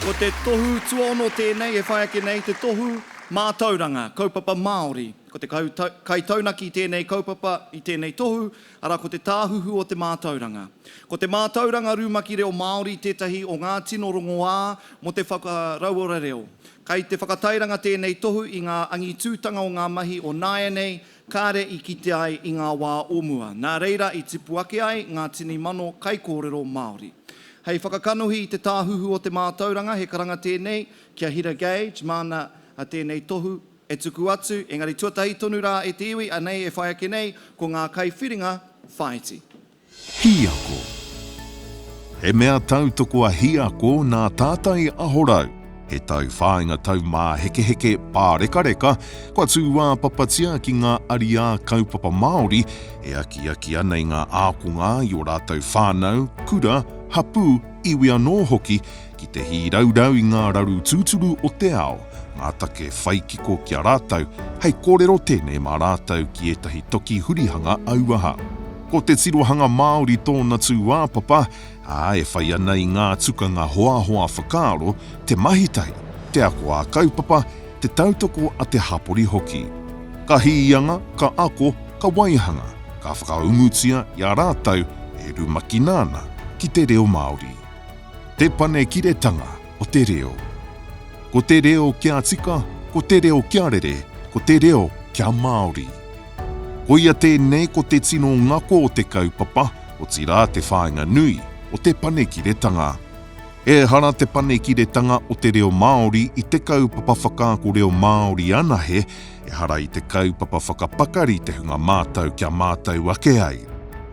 Ko te tohu tuaono tēnei e whai ake nei, te tohu mātauranga, kaupapa Māori. Ko te kaitaunaki i tēnei kaupapa, i tēnei tohu, arā, ko te Tāhuhu o te Mātauranga. Ko te mātauranga rumaki reo Māori tētahi o ngā tino rongoā mō te whakarauora reo. Kai te whakatairanga tēnei tohu i ngā angitūtanga o ngā mahi o nāianei, kāre i kite ai i ngā wā o mua, nā reira i tipu ake ai ngā tini mano kaikōrero Māori. Hei whakakanohi i te Tāhuhu o te Mātauranga, he karanga tēnei ki a Hira Gage, māna tēnei tohu e tuku atu, engari tuatahi tonu rā e te iwi, anei e whai ake nei, ko ngā kaiwhiringa whāiti. Hīako He mea tautoko a Hīako nā Tātai Ahorau, he tauwhāinga taumāhekeheke pārekareka kua tūāpapatia ki ngā ariā kaupapa Māori e akiaki ana i ngā ākongā i ō rātou whānau, kura, hapū, iwi anō hoki ki te hīraurau i ngā raru tūturu o te ao, ngā take whai kiko ki a rātou, hei kōrero tēnei mā rātou ki ētahi toki hurihanga auaha. Ko te tirohanga Māori tōna tūāpapa, ā, e whai ana i ngā tukanga hoahoa whakaaro, te mahi tahi, te ako ā-kaupapa, te tautoko a te hapori hoki. Ka hīanga, ka ako, ka waihanga, ka whakaumutia i a rātou e rumakina ana ki te reo Māori. Te panekiretanga o te reo. Ko te reo kia tika, ko te reo kia rere, ko te reo kia Māori. Koia tēnei ko te tino ngako o te kaupapa, otirā te whāinga nui, o te panekiretanga. Ehara te panekiretanga o te reo Māori i te kaupapa whakaako reo Māori anahe, Ehara i te kaupapa whakapakari te hunga mātau kia mātau ake ai.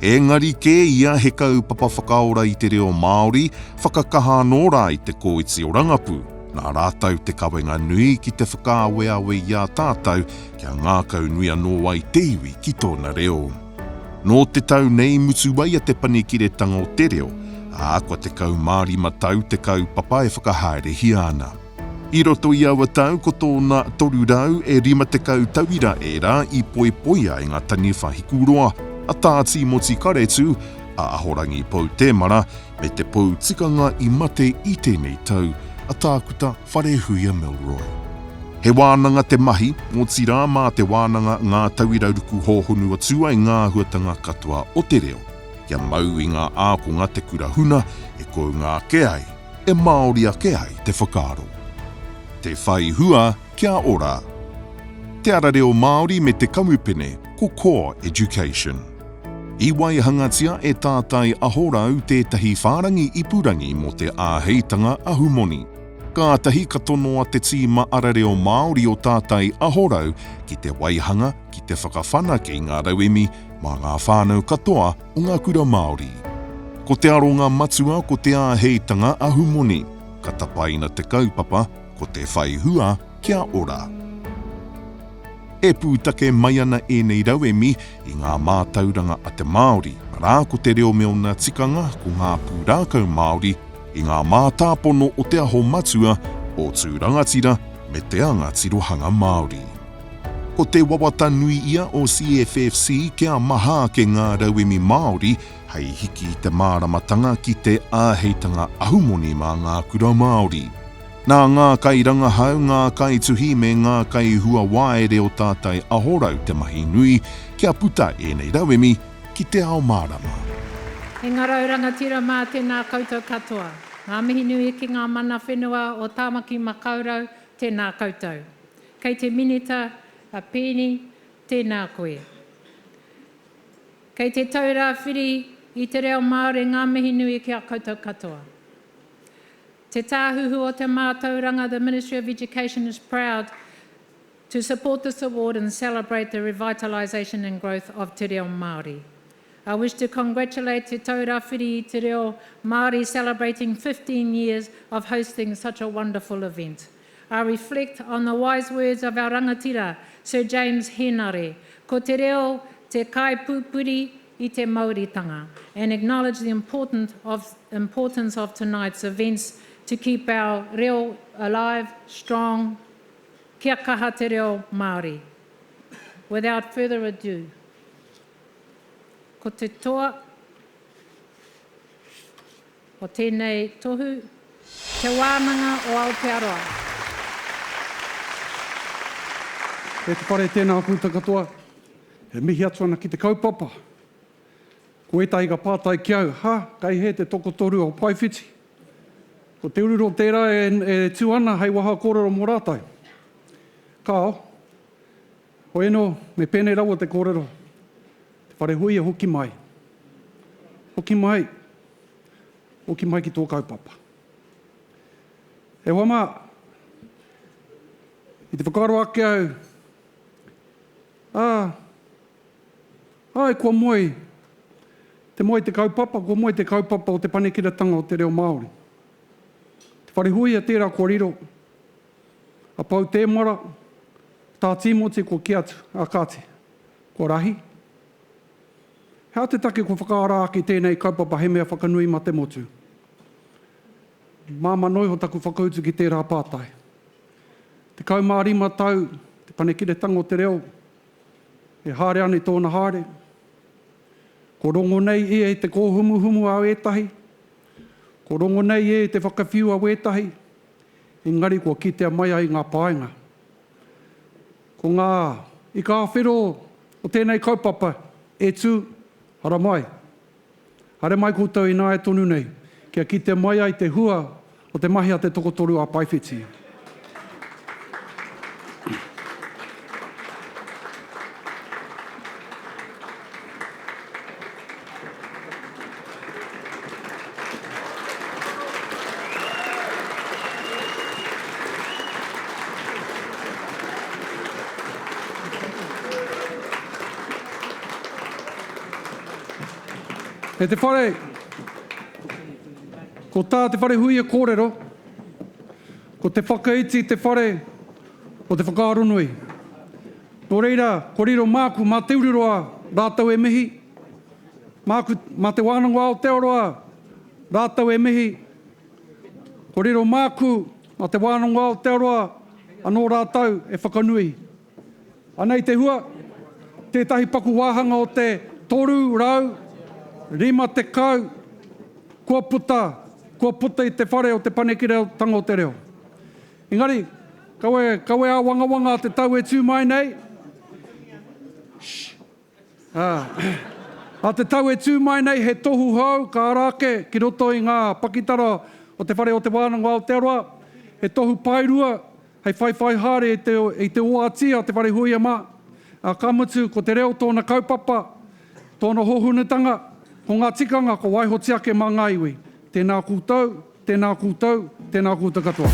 Engari kē ia he kaupapa whakaora i te reo Māori, whakakaha anō rā i te kōiti o Rangapū, nā rātau te kawenga nui ki te whakaaweawe i a tātau kia ngākau nui anō ai te iwi ki tōna reo. Nō te tau nei mutu ai a Te Panekiretanga o te Reo, ā, kua 15 tau te kaupapa e whakahaerehia ana. I roto i aua tau ko tōna 300 e 50 tauira ērā i poipoi ai ngā taniwha hikuroa a Tā Tīmoti Karetu, a Ahorangi Pou Temara me te pou tikanga i mate i tēnei tau, a Tākuta Wharehuia Milroy. He wānanga te mahi, otirā mā te wānanga ngā tauira ruku hōhonu atu ai ngā āhuatanga katoa o te reo, kia mau i ngā ākonga te kura huna e kounga ake ai. e Māori ake ai te whakaaro. Te whai hua kia ora. Te Ara Reo Māori me te Kamupene ko Core Education. I waihangatia e Tātai Ahorau tētahi whārangi ipurangi mō te āheitanga ahumoni. Kātahi ka tonoa te tīma Ara Reo Māori o Tātai Ahorau ki te waihanga ki te whakawhanake i ngā rauemi mā ngā whānau katoa o ngā kura Māori. Ko te aronga matua ko te āheitanga ahumoni, ka tapaina te kaupapa ko te whai hua kia ora. E pūtake mai ana ēnei rauemi i ngā mātauranga a te Māori, arā ko te reo me ōna tikanga ko ngā pūrākau Māori i ngā mātāpono o Te Aho Matua o Tūrangatira me te anga tirohanga Māori. Ko te wawata nui ia o CFFC kia maha ake ngā rauemi Māori hei hiki i te māramatanga ki te āheitanga ahumoni mā ngā kura Māori. Nā ngā kairangahau, ngā kaituhi me ngā kaihuawaere o Tātai Ahorau te mahi nui kia puta ēnei rauemi ki te ao mārama. E nga rau rangatira ma tena koutou katoa. Nga mihi nui ki nga mana whenua o Tamaki Makaurau, tena koutou. Kei te Minita a Peeni, tēnā koe. Kei te tau rā whiri i te reo Māori ngā mihi nui ki a koutou katoa. Te Tāhuhu o te Mātauranga the Ministry of Education is proud to support this award and celebrate the revitalisation and growth of te reo Māori. I wish to congratulate Te Tau Rā Whiri i te Reo Māori celebrating 15 years of hosting such a wonderful event. I reflect on the wise words of our rangatira, Sir James Henare, Ko te reo te kaipupuri i te Māoritanga, and acknowledge the important of importance of tonight's events to keep our reo alive, strong, kia kaha te reo Māori. Without further ado, ko te toa. o tēnei tohu, Te Wānanga o Aotearoa. E te whare, tēnā koutou katoa, e mihi atu ana ki te kaupapa. Ko ētahi ka pātai ki au, ha, kei hē te tokotoru o Paewhiti? Ko te ururo tērā e tū ana hei waha kōrero mō rātou. Kāo. Hoeno, me pēnei rawa te kōrero. Te whare hui e hoki mai. Hoki mai, hoki mai ki tō kaupapa. E hoa mā, i te whakaaro ake au, ā, āe kua moe te moe te kaupapa, kua moe te kaupapa o Te Panekiratanga o Te Reo Māori. Te whare hui a tērā kua riro, a Pou Tēmara, Tā Tīmoti kua kī atu, a kāti. Kua rahi. He aha te take kua whakaara ake tēnei kaupapa he mea whakanui ma te motu? Māmā noa iho taku whakautu ki tērā pātai. Tekau mā rima tau Te Panekiretanga o te Reo, e haere ana i tōna haere. Kua rongo nei ia i te kōhumuhumu a ētahi, kua rongo nei ia i te whakawhiu a wētahi, engari kua kitea mai ai ngā painga Ko ngā ikāwhero o tēnei kaupapa e tū, hara mai. Haere mai koutou ināia tonu nei kia kite mai ai te hua o te mahi a te tokotoru a Paewhiti. E te whare, ko tā te whare huia kōrero, Ko te whakaiti te whare o te whakaaronui. Nō reira, kua riro māku mā Te Uriroa rātou e mihi, māku mā Te Wānanga o Aotearoa rātou e mihi, kua riro māku mā Te Wānanga o Aotearoa anō rātou e whakanui. Anei te hua, tētahi paku wāhanga o te 350 kua puta, kua puta i te whare o Te Panekiretanga o te Reo. Engari, kawe, kawe āwangawanga te tau e tū mai nei, shh! Ā, ā te tau e tū mai nei he tohu hou ka ara ake ki roto i ngā pakitara o Te Whare o Te Wānanga o Aotearoa, he tohu paerua hei whaiwhai haere i te oati a Te Wharehuia mā, ā, ka mutu ko te reo tōna kaupapa, tōna hohunutanga, ko ngā tikanga ka waihotia ake mā ngā iwi. Tēnā koutou, tēnā koutou, tēnā koutou katoa.